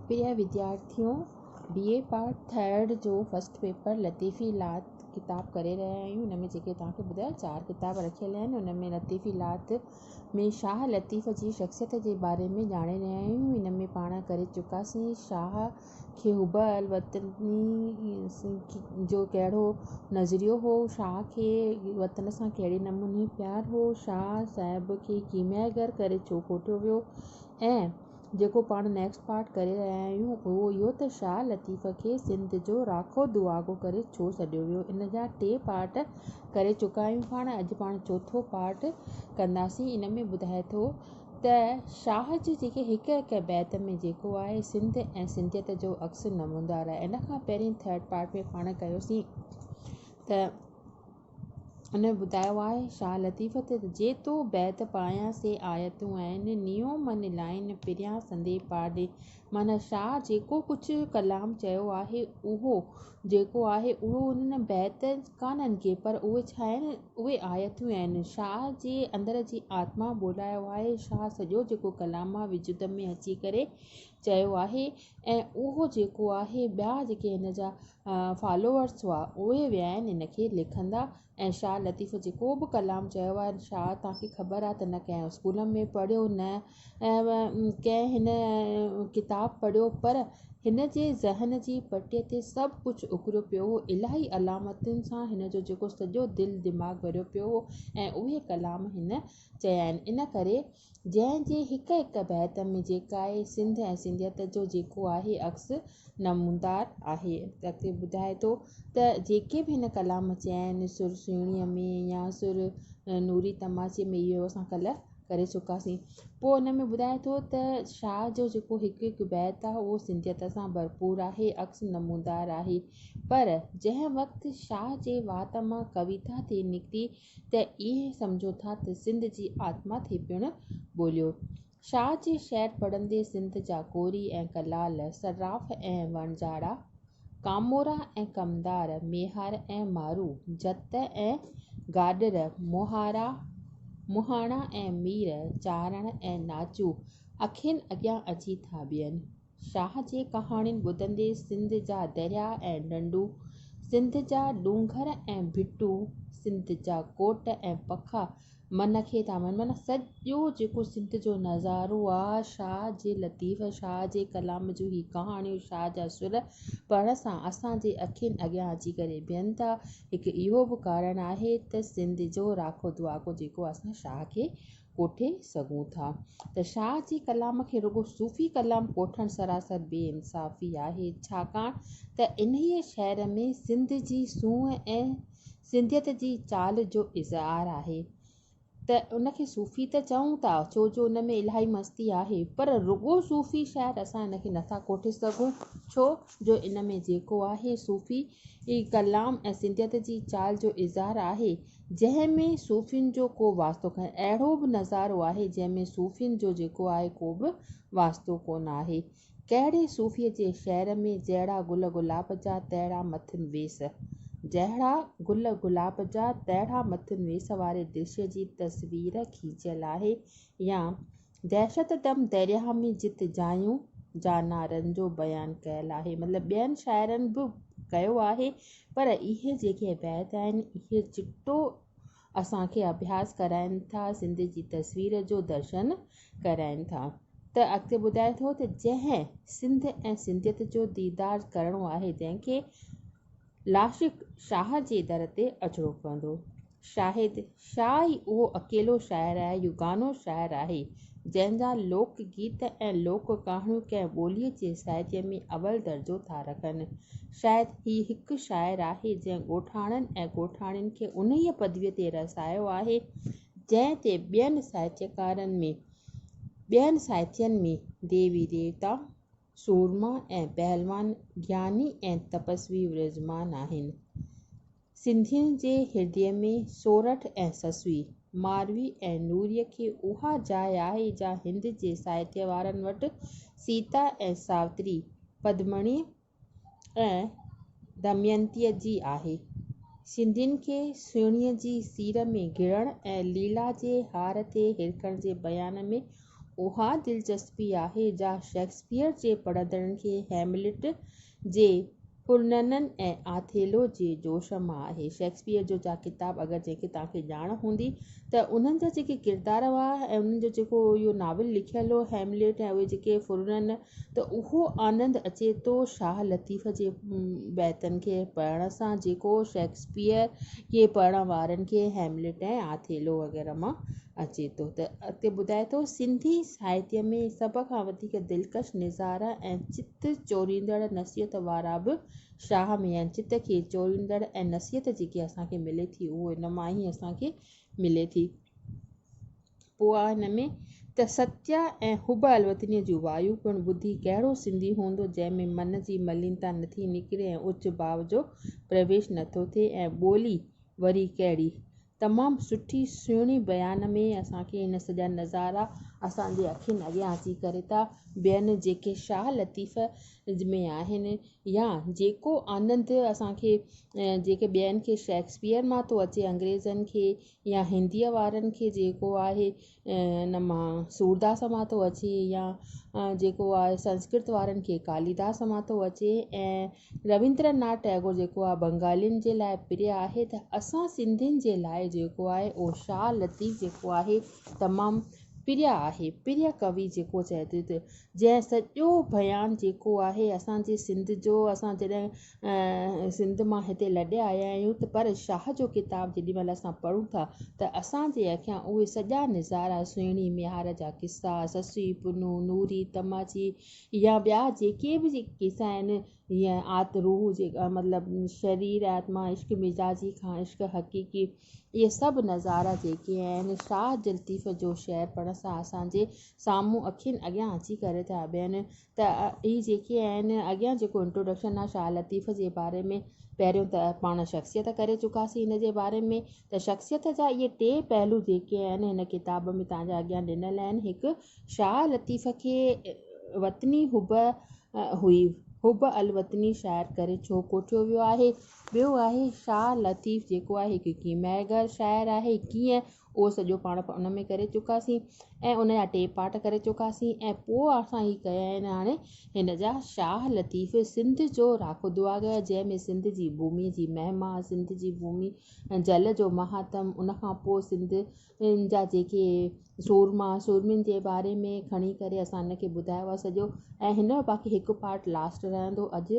پريا وديارٿيون B A part third جو first paper لطيفي لات ڪتاب ڪري رهيا آهيون ان ۾ جيڪي توهان کي ٻڌايو چار ڪتاب رکيل آهن ان ۾ لطيفي لات ۾ شاهه لطيف جي شخصيت جي باري ۾ ڄاڻي رهيا آهيون ان ۾ پاڻ ڪري چڪاسين شاهه کي حب الوطني جو ڪهڙو نظريو هو شاهه کي وطن سان ڪهڙي نموني پيار هو شاهه صاحب کي ڪيميا گر ڪري ڇو ڪوٺيو ويو ۽ جيڪو پاڻ نيڪسٽ پارٽ ڪري رهيا آهيون اهو اهو ته شاهه لطيف کي سنڌ جو راکو دعاگو ڪري ڇو سڏيو ويو ان جا ٽي پارٽ ڪري چڪا آهيون پاڻ اڄ پاڻ چوٿو پارٽ ڪنداسين ان ۾ ٻڌائي ٿو ته شاهه جي جيڪي هڪ هڪ بيت ۾ جيڪو آهي سنڌ ۽ سنڌيت جو عڪس نمودار آهي ان کان پهرين ٿرڊ پارٽ ۾ پاڻ ڪيوسين ته ان ٻڌايو آهي شاهه لطيف ته جي تو بيت پايان سي آيتون آهن نيو من لائين پريان سندي پاڙي معنيٰ شاهه جيڪو ڪجهه ڪلام چيو آهي اهو جيڪو آهي اهو انهن بيت ڪانهن ڪي پر اهي ڇا آهن اهي آيتون آهن شاهه جي اندر جي آتما ٻولايو آهي شاهه سڄو جيڪو ڪلام مان وجود ۾ اچي ڪري چيو آهي ۽ اهو جيڪو آهي ٻيا جيڪي هن جا فالوورس هئا اهي ويا آهن هن کي ليکندا ۽ شاهه لطيف جيڪو به ڪلام چيو آهي شاهه توهان کي خبر آهي ته نه ڪنهن اسڪول ۾ پڙهيو نه ڪنهن هن ڪتاب پڙهيو پر هن جي ذهن جي پٽي تي سڀ ڪجهه اڪريو پيو هو الاهي علامتن سان هن جو جيڪو سڄو دل دماغ ڀريو پيو هو ۽ اهي ڪلام هن چيا آهن ان ڪري جنهن جي هڪ هڪ بيت ۾ جيڪاهي سنڌ ۽ سنڌيت جو جيڪو آهي عڪس نمودار آهي. اڳتي ٻڌائي ٿو ته جيڪي به هن ڪلام چيائين سر سهڻيء ۾ يا سر نوري تماچي ۾ اهو اسان ڪلهه ڪري چڪاسين. پوء ان ۾ ٻڌائي ٿو ته شاهه جو جيڪو هڪ هڪ بيت آهي اهو سنڌيت سان ڀرپور آهي عڪس نمودار آهي پر جنهن وقت شاهه جي وات مان ڪويتا ٿي نڪتي ته ائين سمجهو ٿا ته سنڌ جي آتما ٿي پڻ ٻوليو. شاهه جي شعر پڙهندي سنڌ جا ڪوري ۽ ڪلال، صراف ۽ وڻجاڙا، ڪامورا ۽ ڪمدار، ميهار ۽ مارو، جت ۽ گاڏڙ، مهارا، مهاڻا ۽ مير، چارڻ ۽ ناچو اکين اڳيان اچي ٿا بيهن. شاهه جي ڪهاڻين ٻڌندي سنڌ جا دريا ۽ ڍنڍون، سنڌ جا ڏونگر ۽ ڀٽون، سنڌ جا ڪوٽ ۽ پکا من کي ٿا وڻن. معنيٰ سڄو جيڪو سنڌ جو نظارو آ، شاهه جي لطيف، شاهه جي ڪلام جون هي ڪهاڻيون، شاهه جا سر پڙهڻ سان اسان جي اکين اڳيان اچي ڪري بيهن ٿا. هڪ اهو به ڪارڻ آهي ته سنڌ جو راکو دعاڪو جيڪو اسان شاهه کي ڪوٺي سگهون ٿا ته شاهه جي ڪلام کي رڳو صوفي ڪلام ڪوٺڻ سراسر بي انصافي آهي ڇاڪاڻ ته انهيء شعر ۾ سنڌ جي سونهن ۽ سنڌيت جي چال جو اظهار آهي ته ان کي صوفي ته چئون ٿا ڇو جو ان ۾ الاهي مستي آهي پر رڳو صوفي شعر اسان ان کي نٿا ڪوٺي سگهون ڇو جو ان ۾ جيڪو آهي صوفي ڪلام ۽ سنڌيت جي چال جو اظهار آهي جنهن ۾ صوفين جو ڪو واسطو ڪانهي. اهڙو به نظارو آهي جنهن ۾ صوفين جو جيڪو آهي ڪو به واسطو ڪونه آهي. ڪهڙي صوفيء جي شعر ۾ جهڙا گل گلاب جا تهڙا مٿن ويس. جهڙا گل گلاب جا تهڙا مٿن ويس واري درشي جي تصوير کيچيل آهي يا دهشت دم درياهه ۾ جت جايون جا نعرن جو بيان ڪيل آهي مطلب ٻين شاعرن به ڪيو آهي پر اهي جيڪي بيت آهن اهي چٽو اسان کي اڀياس ڪرائين ٿا سنڌ جي تصوير جو درشن ڪرائين ٿا ته اڳتي ٻڌائي ٿو ته جنهن سنڌ ۽ سنڌيت جو ديدار ڪرڻو آهي جنهن کي لاشق شاهه جي در تي اچڻو پوندو. شاهد شاهه ئي اهو اڪيلو شاعر آهي، يگانو شاعر آهي، جنهن جا لوڪ گيت ۽ لوڪ ڪهاڻيون ڪنهن ٻوليء جي سائتيء ۾ اول درجو ٿا رکن. شايد هي هڪ شاعر آهي، جنهن ڳوٺاڻن ۽ ڳوٺاڻين کي انهيء پدويء تي رسايو آهي، جنهن تي ٻين سائتيڪارن ۾، ٻين سائتين ۾، ديوي ديوتا، سورما ۽ پهلوان گياني ۽ تپسوي ورجمان آهن. سنڌين جي هردي ۾ سورٺ ۽ سسوي، ماروي ۽ نوري کي اها جاء آهي جا هند جي ساهتيه وارن وٽ سيتا ۽ ساوتري، پدمڻي ۽ دمينتيء جي آهي. سنڌين کي سهڻيء جي سير ۾ گهڙڻ ۽ ليلا جي هار تي هرکڻ جي بيان ۾ اها دلچسپي آهي جا شيڪسپيئر جي پڙهندڙن کي هيملٽ جي پرننن ۽ آٿيلو جي جوش مان آهي. شيڪسپيئر جو جا ڪتاب اگر جنهن کي توهان کي ڄاڻ هوندي ته انهن جا جيڪي ڪردار هئا ۽ انهن جو جيڪو اهو ناول لکيل هو هيملٽ ۽ اهي جيڪي پرنن ته اهو آنند اچي ٿو شاهه لطيف جي بيتن کي پڙهڻ سان جيڪو شيڪسپيئر جي پڙهڻ وارن کي هيملٽ ۽ آٿيلو وغيره مان اچي ٿو ته اڳتي ٻڌائي ٿو سنڌي ساهتيه ۾ سڀ کان وڌيڪ دلڪش نظارا ۽ چت چوريندڙ نصيحت وارا به شاهه ۾ آهن چت کي چوريندڙ ۽ نصيحت جيڪي اسان کي ملي ٿي اهو ان مان ئي اسان کي ملي ٿي پوء آء هن ۾ ته ستيا ۽ حب الوطنيء جون وايون پڻ ٻڌي ڪهڙو سنڌي هوندو جنهن ۾ من جي ملينتا نٿي نڪري ۽ اچ ڀاء جو پرويش نٿو ٿئي ۽ ٻولي وري ڪهڙي. تمام سٺي سهڻي بيان ۾ اسان کي هن سڄا نظارا اسان جي اکين اڳيان اچي ڪري ٿا بيهن جيڪي شاهه لطيف ۾ آهن يا جيڪو آنند اسان کي جيڪي ٻين کي شيڪسپيئر مان ٿو اچي انگريزن کي يا هنديء وارن کي جيڪو آهي ان مان سورداس مان ٿو اچي يا جيڪو آهي سنسڪرت وارن کي ڪاليداس مان ٿو اچي ۽ ربيندر ناٿ ٽئگور جيڪو آهي بنگالين جي لاء پريا آهي ته اسان سنڌين جي لاء جيڪو آهي اهو شاهه لطيف جيڪو آهي تمام پريا آهي پريا ڪوي جيڪو چئجي ٿو جنهن سڄو بيان جيڪو آهي اسان جي سنڌ جو اسان جڏهن سنڌ مان هتي لڏي آيا آهيون ته پر شاهه جو ڪتاب جيڏي مهل اسان پڙهون ٿا ته اسان جي اکيان اهي سڄا نظارا سهڻي ميهار جا قصا سسئي پنهون نوري تماچي يا ٻيا جيڪي به قصا آهن يا آت روح جي مطلب شرير آتما عشق مزاجي کان عشق حقيقي اهي سڀ نظارا جيڪي آهن شاهه لطيف جو شعر پڙهڻ سان اسان جي سامهون اکين اڳيان اچي ڪري ٿا بيهن ته هي جيڪي آهن اڳيان جيڪو انٽروڊڪشن آ شاهه لطيف جي باري ۾ پهريون ته پاڻ شخصيت ڪري چڪاسين هن جي باري ۾ ته شخصيت جا اهي ٽي پهلو جيڪي آهن هن ڪتاب ۾ توهان جي اڳيان ڏنل آهن هڪ شاهه لطيف کي وطني حب هئي حب الوطني شاعر ڪري ڇو ڪوٺيو ويو آهي ٻيو آهي شاهه لطيف جيڪو آهي هڪ ڪيمياگر شاعر آهي ڪيئن اهو سڄو پاڻ ان ۾ ڪري چڪاسين ۽ ان جا ٽي پارٽ ڪري چڪاسين ۽ پوء اسان هي ڪيا آهن هاڻي هن جا شاهه لطيف سنڌ جو راکو دعا گيا جنهن ۾ سنڌ جي ڀومي جي مهما سنڌ جي ڀومي ۽ جل جو مهاتم ان کان پوء سنڌ جا جيڪي سورما سورمين جي باري ۾ کڻي ڪري اسان ان کي ٻڌايو آهي سڄو ۽ هن جو باقي هڪ پارٽ لاسٽ رهندو اڄ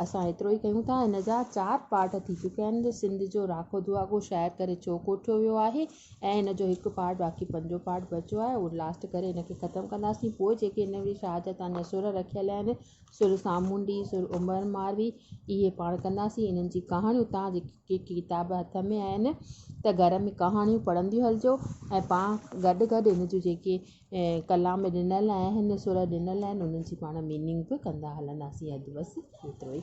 اسان ايترو ئي ڪيون ٿا. ان جا چار پارٽ ٿي چڪيا آهن جو سنڌ جو راکو دعاگو شاعر ڪري ڇو ڪوٺيو ويو آهي ۽ ان جو هڪ پارٽ باقي پنجون پارٽ بچيو آهي اهو لاسٽ ڪري ان کي ختم ڪنداسين پوء جيڪي ان ۾ شاهه جا تان جا سر رکيل آهن سر سامونڊي سر عمر ماروي اهي پاڻ ڪنداسين انهن جي ڪهاڻيون تان جيڪي ڪتاب هٿ ۾ آهن ته گهر ۾ ڪهاڻيون پڙهنديون هلجو ۽ پاڻ گڏ گڏ ان جون جيڪي ڪلام ڏنل آهن سر ڏنل آهن انهن جي پاڻ ميننگ به ڪندا هلنداسين اڌ بس ايترو ئي.